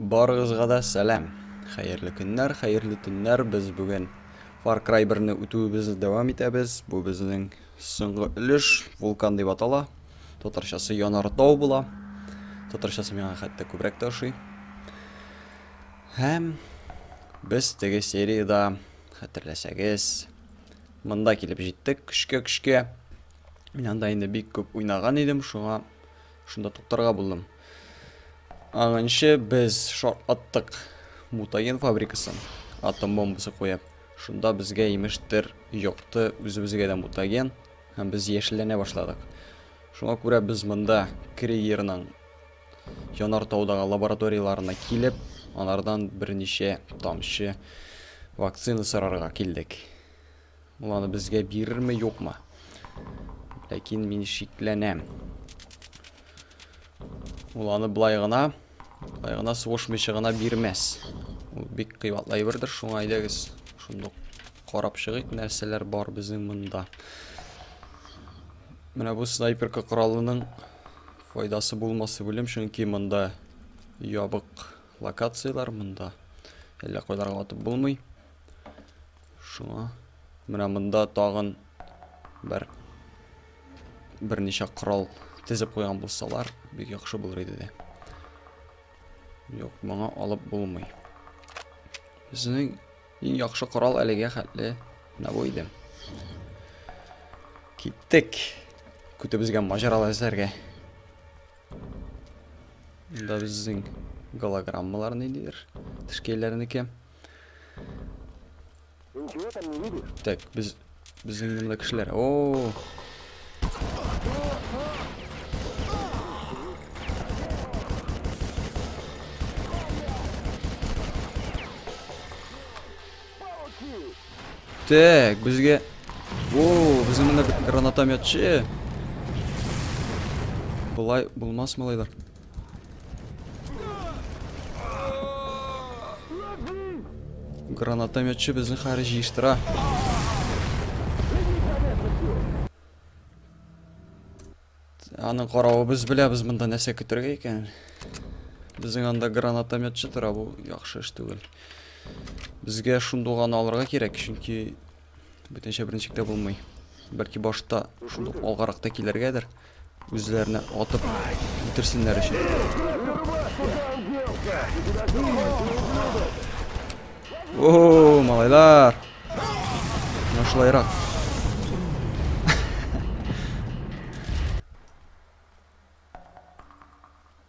Барыгызга да сәлам. Хәерле көннәр, хәерле төннәр. Без бүген Far Cry 1-ны үтүебезне дәвам итәбез. Бу безнең соңгы өлеш, вулкан дип атала. Татарчасы Янартау була. Татарчасы миңа хәтта күбрәк тә ошый. Һәм без теге сериядә, хәтерләсәгез, монда килеп җиттек, көчкә-көчкә. Мин анда инде бик күп уйнаган идем, шуңа шунда туктарга булдым. Аңынчы без шарт аттык мутаген фабрикасы, атом бомбасы куеп. Шунда безгә имештер йокты үзебезгә дә мутаген, һәм без яшелләнә башладык. Шуңа күрә без монда Криерның янар таудагы лабораторияларына килеп, анардан берничә тамчы вакцина сорарга килдек. Ул аны безгә бирерме, юкмы? Ләкин мин шикләнәм. Ул аны былай гына, былай гына сугышмыйча гына бирмәс. Ул бик кыйбатлы әйбердер, шуңа әйдәгез, шундук карап чыгыйк, нәрсәләр бар безнең монда. Менә бу снайперка коралының файдасы булмасы белем, чөнки монда ябык локацияләр монда. Әллә кайларга атып булмый. Шуңа менә монда тагын бер берничә корал тезеп куйган булсалар, бик яхшы булыр иде дә. Юк, моңа алып булмый. Безнең иң яхшы корал әлегә хәтле менә бу иде. Киттек. Көтебезгә маҗаралы эзләргә. Монда безнең голограммалар ниндидер? Тешкәйләрнеке. Тешкәйләрнеке. Ты ничего там не видишь? Так, без... Без инде кешеләр. О! Так, безгә... Воу, безнең монда гранатометчы. Болай булмас малайлар. Гранатометчы безне хәзер җыештыра. Аның каравы без беләбез монда нәрсә көтергә икән. Безнең анда гранатометчы тора бу яхшы эш түгел. Безгә шундуганы алырга кирәк, чөнки бөтенчә беренчектә булмый. Бәлки башта шундук алгаракта килергәдер. Үзләренә атып үтерсеннәр өчен. О, малайлар. Менә шулайрак.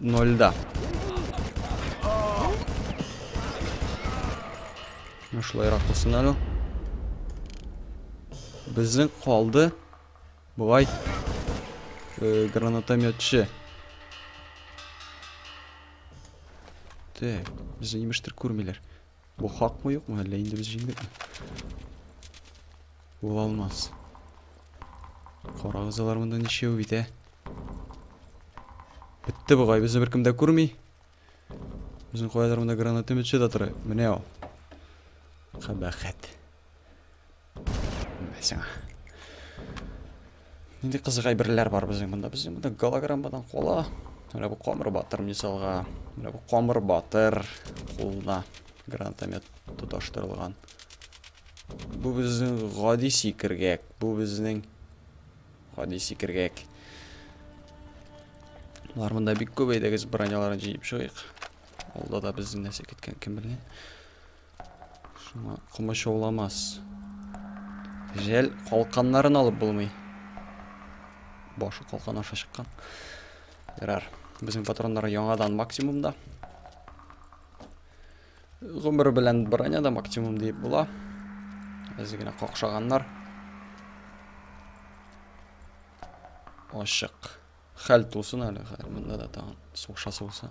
Нольда. Шулайрак булсын әле. Безнең калды. Болай э, гранатометчы. Так, безне имештер күрмиләр. Бу хакмы юкмы, әллә инде без җиңдекме? Була алмас. Карагыз алар монда ничәү бит, ә? Бетте бугай, безне беркем дә күрми. Безнең каядыр монда гранатометчы да тора. Менә ул. Кабахәт. Сиңа. Нинди кызык әйберләр бар безнең монда? Безнең монда голограммадан кола. Менә бу камыр батыр мисалга. Менә бу камыр батыр кулына гранатомет тоташтырылган. Бу безнең гади сикергәк. Бу безнең гади сикергәк. Алар монда бик күп әйдәгез броняларын җыеп чыгыйк. Алда да безнең нәрсә киткән кем белгән. Шуңа комачауламас. Жәл калканнарын алып булмый. Башы калкан аша чыккан. Ярар. Безнең патроннар яңадан максимумда. Гомер белән броня да максимум диеп була. Әзе генә какшаганнар. Ашык. Хәл тусын әле, хәл. Монда да тагын сугышасы булса.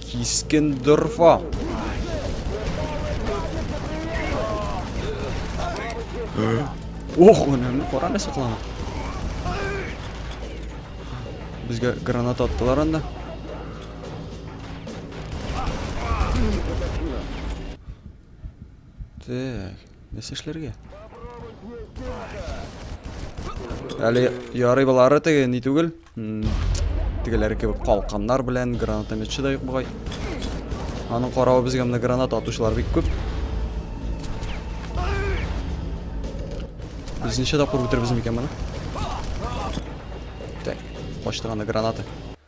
Кискен дорфа. Ох, уны кара нәрсә кылана. Безгә граната аттылар анда. Так. Нәрсә эшләргә? Әле ярый болары теге ни түгел. Тегеләре кебек калканнар белән гранатометчы да юк бугай. Аның каравы безгә менә граната атучылар бик күп. Без ничә тапкыр үтербез микән моны? Так, качтырганы гранаты.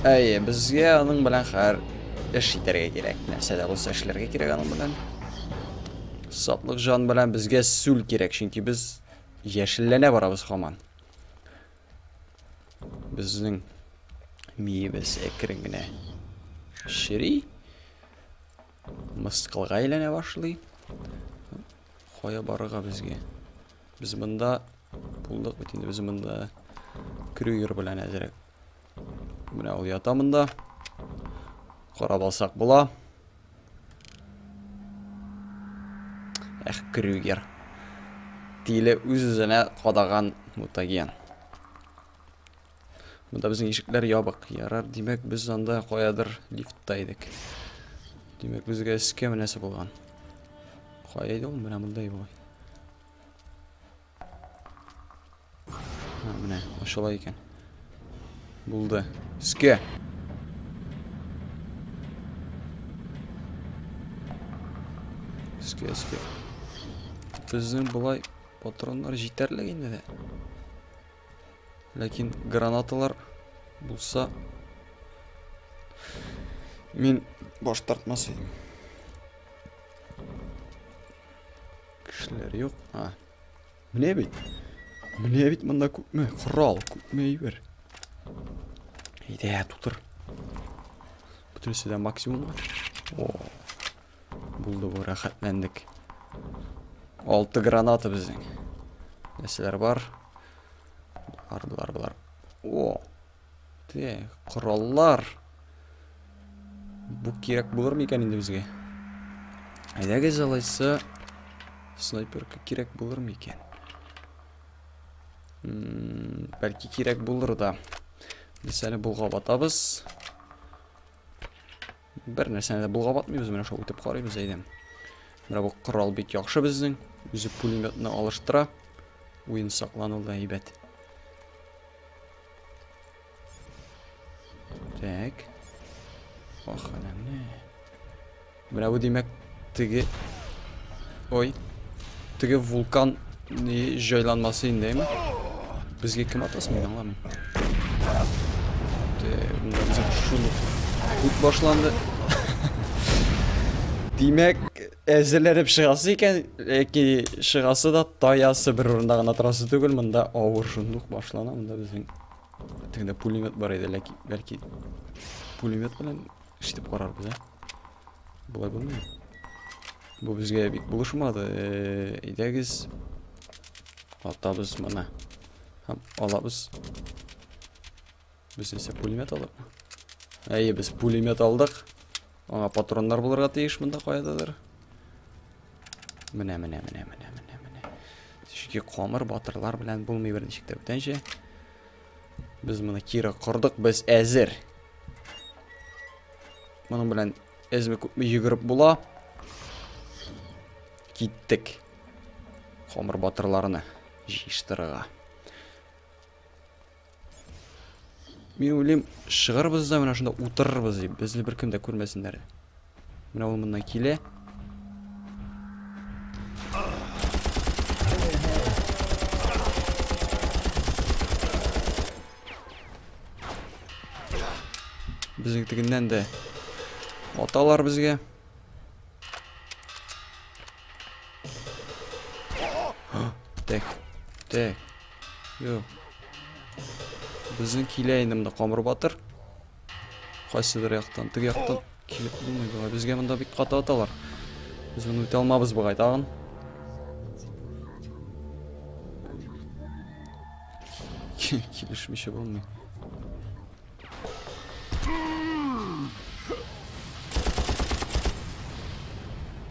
Әйе, безгә аның белән хәр эш итәргә кирәк. Нәрсә дә булса эшләргә кирәк аның белән. Сатлык жан белән безгә сүл кирәк, чөнки без яшелләнә барабыз хаман. Безнең миебез әкрен генә чери. Мыскылга әйләнә башлый. Кая барырга безгә? Без монда булдык бит инде. Без монда Крюгер белән әзрәк. Менә ул ята монда. Карап алсак була. Эх, Крюгер. Тиле үз-үзенә кадаган мутаген. Монда безнең ишекләр ябык. Ярар, димәк, без анда каядыр лифтта идек. Димәк, безгә эскә менәсе булган. Кая иде ул? Менә монда иде Менә, ачыла икән. Булды. Эскә. Эскә, эскә. Безнең болай патроннар җитәрлек инде дә. Ләкин гранаталар булса, мин баш тартмас идем. Кешеләр юк. А. Менә бит. Менә бит монда күпме корал, күпме әйбер. Әйдә, тутыр. Бүтәнесе дә максимум. О. Булды бу, рәхәтләндек. Алты граната безнең. Нәрсәләр бар? Бар, бар, бар. О! Те, кораллар. Бу кирәк булыр микән инде безгә? Әйдәгез алайса снайперка кирәк булыр микән? Бәлки кирәк булыр да. Без әле булга батабыз. Бер нәрсәне дә булгап атмыйбыз, менә шулай үтеп карыйбыз, әйдә. Менә бу корал бик яхшы безнең. Үзе пулеметны алыштыра. Уен саклану да әйбәт. Так. Ах, әнә менә. Менә бу димәк, Теге... Ой. Теге вулкан җайланмасы индеме? Безгә кем атасын мин аңламыйм. Безгә шуны күп башланды. Димәк, әзерләнеп чыгасы икән, яки чыгасы да таясы бер урында гына торасы түгел, монда авыр шундук башлана, монда безнең тегендә пулемет бар иде, ләкин бәлки пулемет белән эшләп карарбыз, ә? Болай булмый. Бу безгә бик булышмады. Әйдәгез. Атабыз моны. Һәм алабыз. Без исә пулемет алдык. Әйе, без пулемет алдык. Аңа патроннар булырга тиеш монда кайдадыр. Менә, менә, менә, менә, менә, менә. Чөнки камыр батырлар белән булмый берничек тә бүтәнчә. Без моны кире кордык, без әзер. Моның белән әзме күпме йөгереп була. Киттек. Хомыр батырларны җыештырырга. Мин уйлыйм, шыгырбыз да менә шунда утырырбыз дип, безне беркем дә күрмәсеннәр. Менә ул моннан килә. Безнекегеннән дә аталар безгә. Так. Так. Юк. Безнең килә инде монда Камыр батыр. Кайсыдыр яктан, теге яктан килеп булмый бугай. Безгә монда бик каты аталар. Без моны үтә алмабыз бугай тагын. Килешмичә булмый.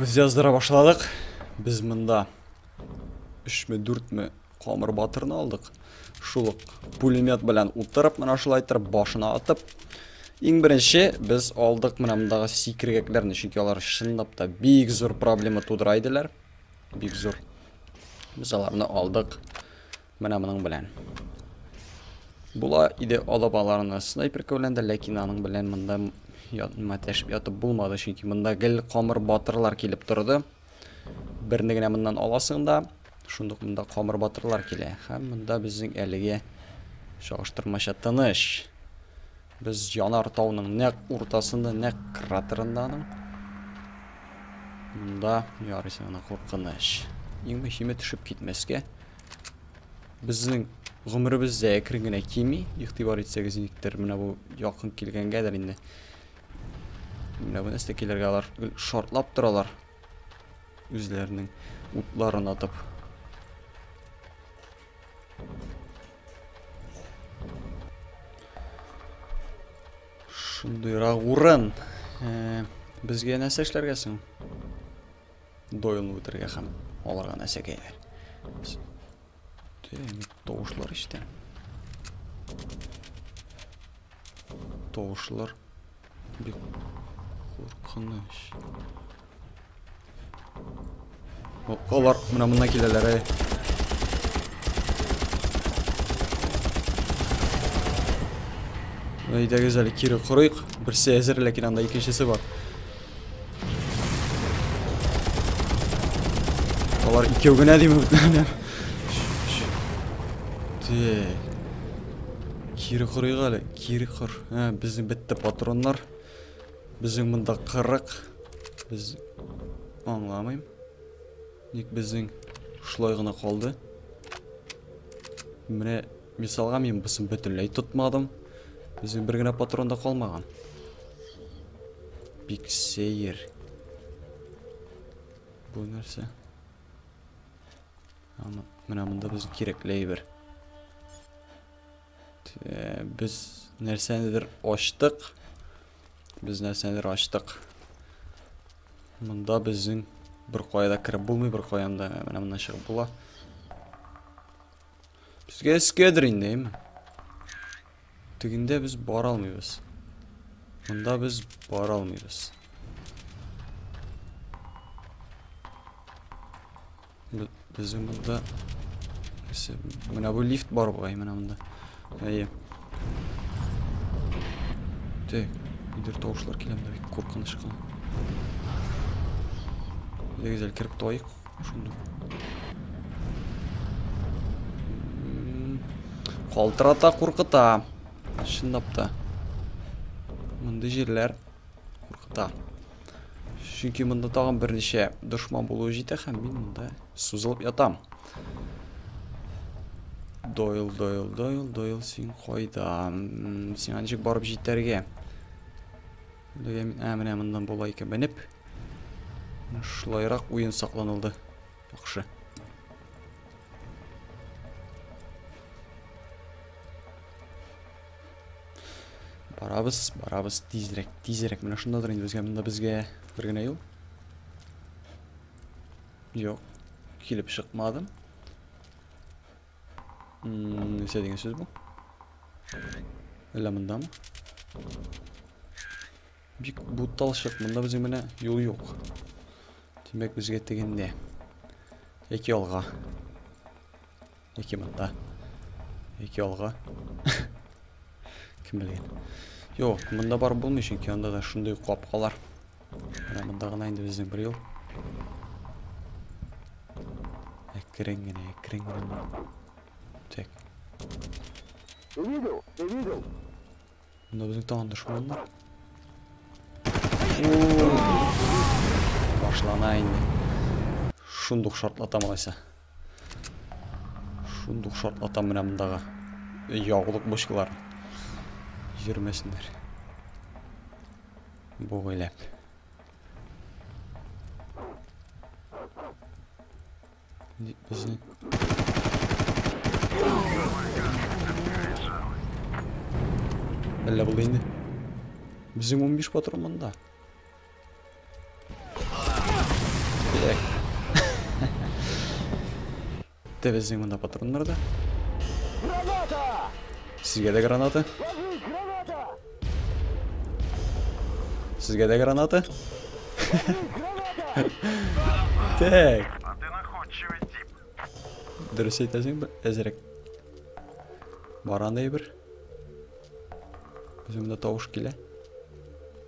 Без яздыра башладык. Без монда 3 ме 4 ме камыр батырны алдык. Шул пулемет белән утырып, менә шулай итеп башына атып. Иң беренче без алдык менә мондагы сикергәкләрне, чөнки алар чынлап та бик зур проблема тудыра иделәр. Бик зур. Без аларны алдык. Менә моның белән. Була иде алабаларны снайперка белән дә, ләкин аның белән монда матәшеп ятып булмады, чөнки монда гел камыр батырлар килеп торды. Берне генә моннан аласың да, шундук монда камыр батырлар килә. Һәм монда безнең әлеге чагыштырмача тыныч. Без янар тауның нәк уртасында, нәк кратерында аның. Монда ярыйсы гына куркыныч. Иң мөһиме төшеп китмәскә. Безнең гомеребез дә әкрен генә кими. Игътибар итсәгез, никтер менә бу якын килгәнгәдер инде. Менә бу нәрсә килергә алар шартлап торалар. Үзләренең утларын атып. Шундыйрак урын. Э, безгә нәрсә эшләргә соң? Дойлны үтергә һәм аларга нәрсә кәйләр? Тавышлар ишетәм. Тавышлар. Бик куркыныч. Алар менә моннан киләләр, әй. Әйдәгез әле кире корыйк. Берсе әзер, ләкин анда икенчесе бар. Алар икәү генә димме бүтәннәр. Тик. Кире корыйк әле, кире кор. Ә, безнең бетте патроннар. Безнең монда 40. Без аңламыйм. Ник безнең шулай гына калды? Менә мисалга мин бусын бөтенләй тотмадым. Безнең бер генә патрон да калмаган. Бик сәер. Бу нәрсә? Аны менә монда без кирәкле әйбер. Без нәрсәнедер ачтык. Без нәрсәнедер ачтык. Монда безнең бер кая да кереп булмый, бер каян да менә моннан чыгып була. Безгә эскәдер инде, әйме? Тегендә без бара алмыйбыз. Монда без бара алмыйбыз. Безнең монда менә бу лифт бар бугай менә монда. Әйе. Тик, идер тавышлар килә монда бик куркыныч кына. Дигез әле кереп туайык шунда. Калтырата куркыта. Чынлап та. Мондый җирләр куркыта. Чөнки монда тагын берничә дошман булуы җитә һәм мин монда сузылып ятам. Дойл, Дойл, Дойл, Дойл, син кайда? Сиңа ничек барып җитәргә? Дөге мин, ә, менә моннан була икән. Менеп. Шулайрак уен сакланылды. Яхшы. Барабыз, барабыз тизрәк, тизрәк. Менә шундадыр инде безгә монда безгә бер генә юл. Юк. Килеп чыкмадым. Нәрсә дигән сүз бу? Әллә мондамы? Бик буталчык. Монда безнең менә юл юк. Димәк, безгә тегендә. Яки алга. Яки монда. Яки алга. Кем белгән. Юк, монда бар булмый, чөнки анда да шундый капкалар. Менә монда гына инде безнең бер юл. Әкрен генә, әкрен генә. Так. Ты видел? Ты видел? Монда безнең тагын дошман бар. Башлана инде. Шундук шартлатам алайса. Шундук шартлатам менә мондагы яулык бочкалар йөрмәсеннәр. Бугайлап. Безнең Әллә булды инде. Безнең 15 патрон монда. Тәп әзең мында патроннар да. Граната! Сезгә дә граната? Сезгә дә граната? Так. Дөрес әйтәсең, әзерәк. Баран әйбер. Үземдә тавыш килә.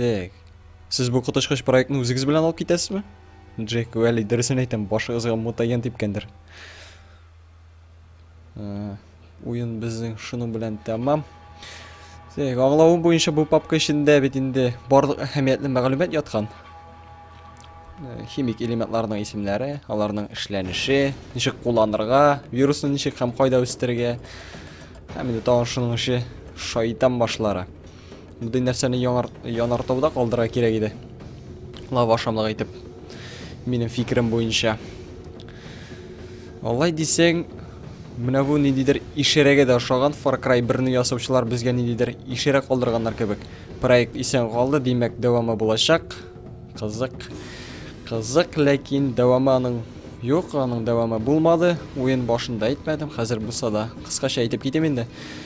Так. Сез бу коточкыч проектны үзегез белән алып китәсезме? Джек Уэлли дөресен әйтәм, башыгызга мутаген типкәндер. Ә, уен безнең шуның белән тәмам. Тик аңлавым буенча бу папка эчендә бит инде барлык әһәмиятле мәгълүмат яткан. Э, химик элементларның исемләре, аларның эшләнеше, ничек кулланырга, вирусны ничек һәм кайда үстерергә. Һәм инде тагын шуның ише шайтан башлары. Мондый нәрсәне яңар, янартауда калдыра кирәк иде. Лава ашамлык итеп. Минем фикерем буенча. Алай дисең, менә бу ниндидер ишерәгә дә ошаган Far Cry 1-не ясаучылар безгә ниндидер ишерә калдырганнар кебек. Проект исән калды, димәк, дәвамы булачак. Кызык. Кызык, ләкин дәвамы аның юк, аның дәвамы булмады. Уен башында әйтмәдем, хәзер булса да кыскача әйтеп китим инде.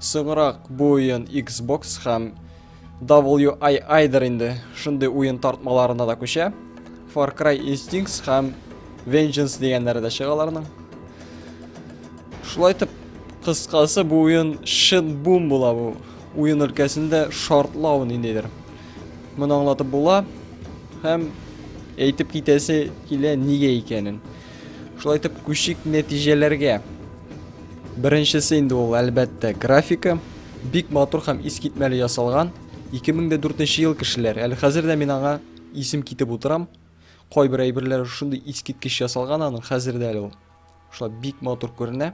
Соңрак бу уен Xbox һәм WII дер инде шундый уен тартмаларына да күчә. Far Cry Instincts һәм Vengeance дигәннәре дә чыга аларның. Шулай итеп, кыскасы бу уен шин бум була бу. Уен өлкәсендә шартлау ниндидер. Моны аңлатып була һәм әйтеп китәсе килә нигә икәнен. Шулай итеп, күчик нәтиҗәләргә. Беренчесе инде ул, әлбәттә, графика. Бик матур һәм искитмәле ясалган. 2004 ел кешеләр. Әле хәзер дә мин аңа исем китеп утырам. Кайбер әйберләр шундый искиткеч ясалган аның хәзер дә әле ул. Шулай бик матур күренә.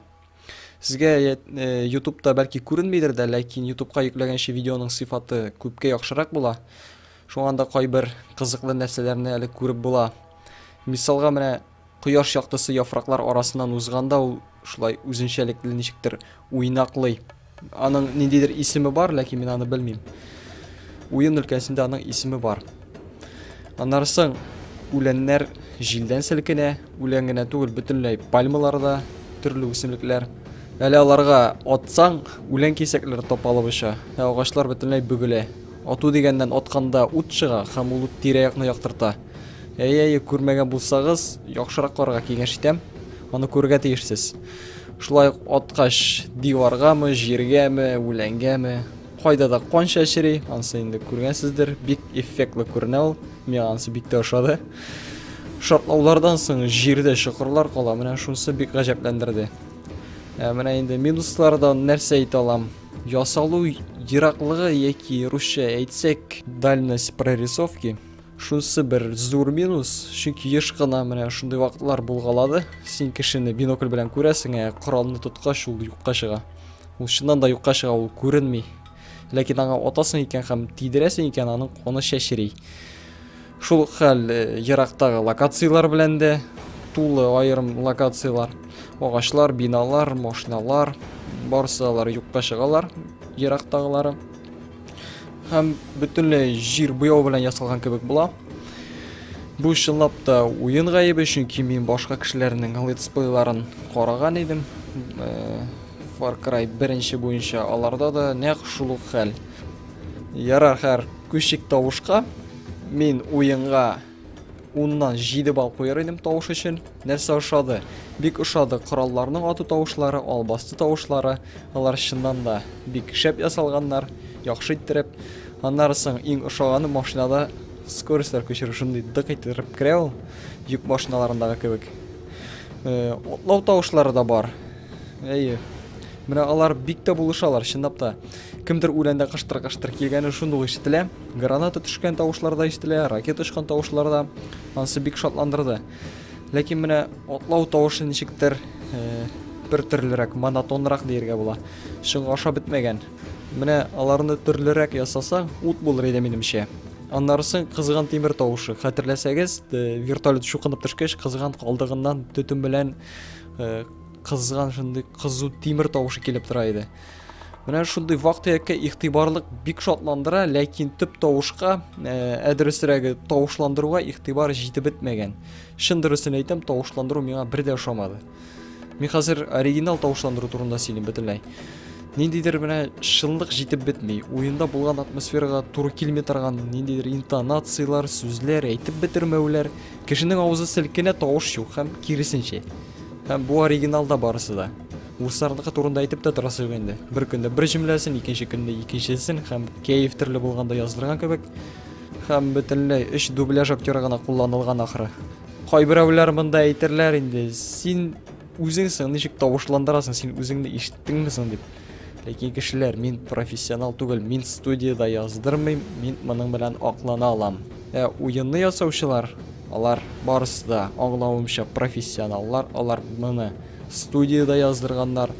Сезгә э, ютубта бәлки күренмидер дә, ләкин ютубка йөкләгәнче видеоның сыйфаты күпкә яхшырак була. Шуңа да кайбер кызыклы нәрсәләрне әле күреп була. Мисалга менә кояш яктысы яфраклар арасыннан узганда ул шулай үзенчәлекле ничектер уйнаклый. Аның ниндидер исеме бар, ләкин мин аны белмим. Уен өлкәсендә аның исеме бар. Аннары соң үләннәр җилдән селкенә, үлән генә түгел, бөтенләй пальмалар да, төрле үсемлекләр. Әле аларга атсаң, үлән кисәкләре тапалып оча, ә агачлар бөтенләй бөгелә. Ату дигәннән атканда ут чыга һәм ул ут тирә-якны яктырта. Әйе, әйе, күрмәгән булсагыз, яхшырак карарга киңәш итәм. Аны күрергә тиешсез. Шулай ук аткач, диваргамы, җиргәме, үләнгәме, кайда да кан чәчри, ансы инде күргәнсездер, бик эффектлы күренә ул. Миңа ансы бик тә ошады. Шартлаулардан соң җирдә чокырлар кала, менә шунысы бик гаҗәпләндерде. Ә менә инде минуслардан нәрсә әйтә алам? Ясалу ераклыгы яки русча әйтсәк, дальность прорисовки. Шунысы бер зур минус, чөнки еш кына менә шундый вакытлар булгалады. Син кешене бинокль белән күрәсең, ә коралны тоткач ул юкка чыга. Ул чыннан да юкка чыга, ул күренми. Ләкин аңа атасың икән һәм тидерәсең икән, аның каны чәчри. Шул хәл э, ерактагы локацияләр белән дә тулы аерым локацияләр. Агачлар, биналар, машиналар, барсы алар юкка чыгалар, ерактагылары. Һәм бөтенләй җир буяу белән ясалган кебек була. Бу чынлап та уен гаебе, чөнки мин башка кешеләрнең летсплейларын караган идем. Э, Far Cry беренче буенча аларда да нәкъ шул ук хәл. Ярар, хәр, күчик тавышка. Мин уенга Уннан җиде бал куер идем тавыш өчен. Нәрсә ошады? Бик ошады. Коралларның ату тавышлары, албасты тавышлары. Алар чыннан да бик шәп ясалганнар, яхшы иттереп. Аннары соң иң ошаганы машинада скорость күчерү шундый дык иттереп керә ул. Йөк машиналарындагы кебек. Э, отлау тавышлары да бар. Әйе. Менә алар бик тә булышалар, чынлап та. Кемдер үләндә кыштыр-кыштыр килгәне шундук ишетелә. Граната төшкән тавышлар да ишетелә, ракета очкан тавышлар да ансы бик шатландырды. Ләкин менә атлау тавышы ничектер э, бер төрлерәк, монотонрак диергә була. Чынга ашап бетмәгән. Менә аларны төрлерәк ясаса, ут булыр иде минемчә. Аннарысын кызган тимер тавышы. Хәтерләсәгез, э, вертолет шукынып төшкәч, кызган калдыгыннан төтен белән э, кызган шундый кызу тимер тавышы килеп тора иде. Менә шундый вак-төяккә игътибарлык бик шатландыра, ләкин төп тавышка, ә э, дөресрәге, тавышландыруга игътибар җитеп бетмәгән. Чын дөресен әйтәм, тавышландыру миңа бер дә ошамады. Мин хәзер оригинал тавышландыру турында сөйлим бөтенләй. Ниндидер менә шынлык җитеп бетми. Уенда булган атмосферага туры килми торган ниндидер интонацияләр, сүзләр, әйтеп бетермәүләр, кешенең авызы селкенә, тавыш юк һәм киресенчә. Һәм бу оригиналда барысы да. Урысларныкы турында әйтеп тә торасы юк инде. Бер көндә бер җөмләсен, икенче көндә икенчесен һәм кәеф төрле булганда язылган кебек. Һәм бөтенләй өч дубляж актеры гына кулланылган ахры. Кайберәүләр монда әйтерләр инде, син үзеңсең, ничек тавышландырасың, син үзеңне ишеттеңме соң дип. Ләкин кешеләр, мин профессионал түгел, мин студияда яздырмыйм, мин моның белән аклана алам. Ә уенны ясаучылар, алар барысы да аңлавымча профессионаллар, алар моны студиядә яздырганнар,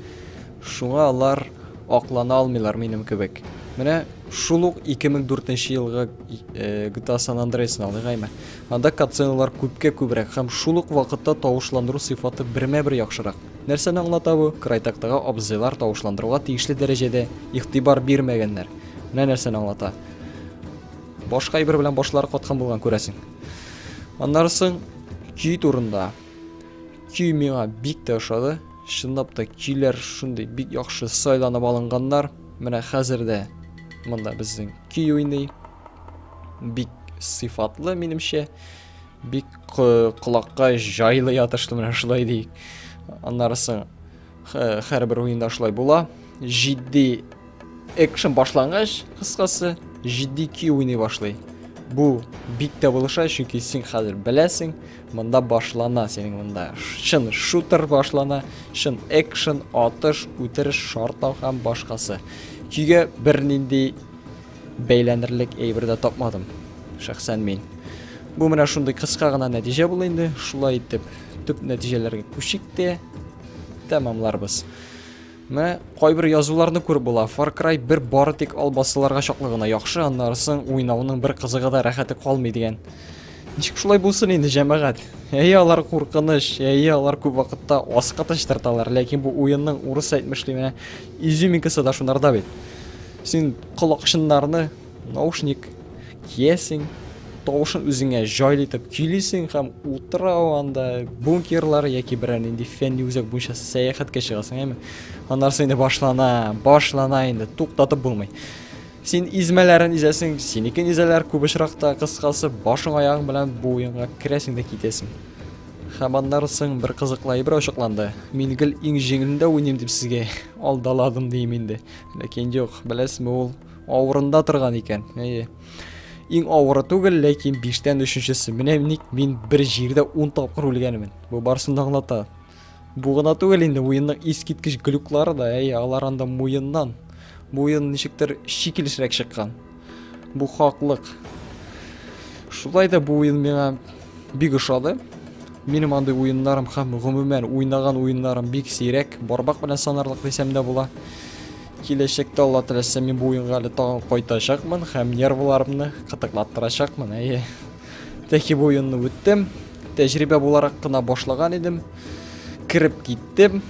шуңа алар аклана алмыйлар минем кебек. Менә шул ук 2004 нче елгы GTA San Andreas-ны алыйк әйме. Анда катсценалар күпкә күбрәк һәм шул ук вакытта тавышландыру сыйфаты бермә-бер яхшырак. Нәрсәне аңлата бу? Крайтактагы абзыйлар тавышландыруга тиешле дәрәҗәдә игътибар бирмәгәннәр. Менә нәрсәне аңлата. Башка әйбер белән башлары каткан булган күрәсең. Аннары соң көй турында. Көй миңа бик тә ошады. Чынлап та көйләр шундый бик яхшы сайланып алынганнар. Менә хәзер дә монда безнең көй уйный. Бик сыйфатлы минемчә. Бик колакка җайлы ятышлы менә шулай ди. Аннары соң Хәрбер уенда шулай була. Җитди экшен башлангач, кыскасы, җитди көй уйный башлый. Бу бик тә булыша, чөнки син хәзер беләсең, монда башлана синең монда. Чын шутер башлана, чын экшен, атыш, үтереш, шартлау һәм башкасы. Көйгә бернинди Бәйләнерлек әйбер дә тапмадым. Шәхсән мин. Бу менә шундый кыска гына нәтиҗә булды инде. Шулай итеп, төп нәтиҗәләргә күчик тә тәмамларбыз. Мә, кайбер язуларны күреп була. Far Cry 1 бары тик албасыларга чаклы гына яхшы, аннары соң уйнауның бер кызыгы да рәхәте калмый дигән. Ничек шулай булсын инде, җәмәгать? Әйе, алар куркыныч, әйе, алар күп вакытта аска тырталар, ләкин бу уенның урыс әйтмешли менә изюминкасы да шунарда бит. Син колакчыннарны, наушник, киясең, тавышын үзеңә җайлы итеп көйлисең һәм утрау анда бункерлар яки берәр нинди фәнни үзәк буенча сәяхәткә чыгасың, әйме? Аннарсы инде башлана, башлана инде, туктатып булмый. Син измәләрен изәсең, синекен изәләр күп очракта, кыскасы, башың аягың белән бу уенга керәсең дә китәсең. Һәм аннары соң бер кызыклы әйбер ачыкланды. Мин гел иң җиңелендә уйныйм дип сезгә алдаладым дим инде. Ләкин юк, беләсме ул авырында торган икән. Әйе. Иң авыры түгел, ләкин биштән өченчесе. Менә ник мин бер җирдә ун тапкыр үлгәнмен. Бу барысын да аңлата. Бу гына түгел инде, уенның искиткеч глюклары да, әйе, алар анда муеннан. Муен ничектер шикелешрәк чыккан. Бу хаклык. Шулай да бу уен миңа бик ошады. Минем андый уеннарым һәм гомумән уйнаган уеннарым бик сирәк, бармак белән санарлык дисәм дә була. Киләчәктә Алла теләсә мин бу уенга әле тагын кайтачакмын һәм нервларымны кытыклаттырачакмын. Әйе. Тәки бу уенны үттем. Тәҗрибә буларак кына башлаган идем. Кереп киттем.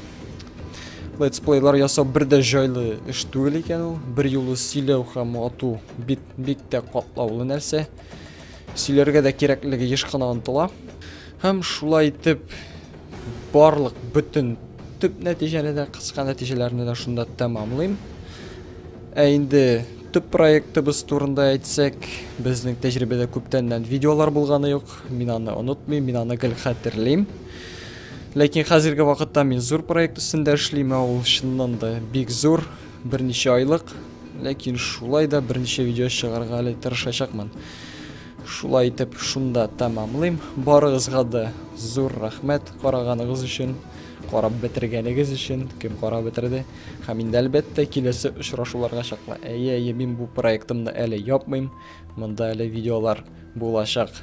Летсплейлар ясау бер дә җайлы эш түгел икән ул. Бер юлы сөйләү һәм ату бик, бик тә катлаулы нәрсә. Сөйләргә дә кирәклеге еш кына онтыла. Һәм шулай итеп барлык бөтен төп нәтиҗәне дә, кыска нәтиҗәләрне дә шунда тәмамлыйм. Ә инде Төп проектыбыз турында әйтсәк, безнең тәҗрибәдә күптәннән видеолар булганы юк. Мин аны онытмыйм, мин аны гел хәтерлим. Ләкин хәзерге вакытта мин зур проект өстендә эшлим, ә ул чыннан да бик зур, берничә айлык. Ләкин шулай да берничә видео чыгарга әле тырышачакмын. Шулай итеп, шунда тәмамлыйм. Барыгызга да зур рәхмәт караганыгыз өчен, карап бетергәнегез өчен, кем карап бетерде. Һәм инде әлбәттә киләсе очрашуларга чаклы. Әйе, әйе, мин бу проектымны әле япмыйм. Монда әле видеолар булачак.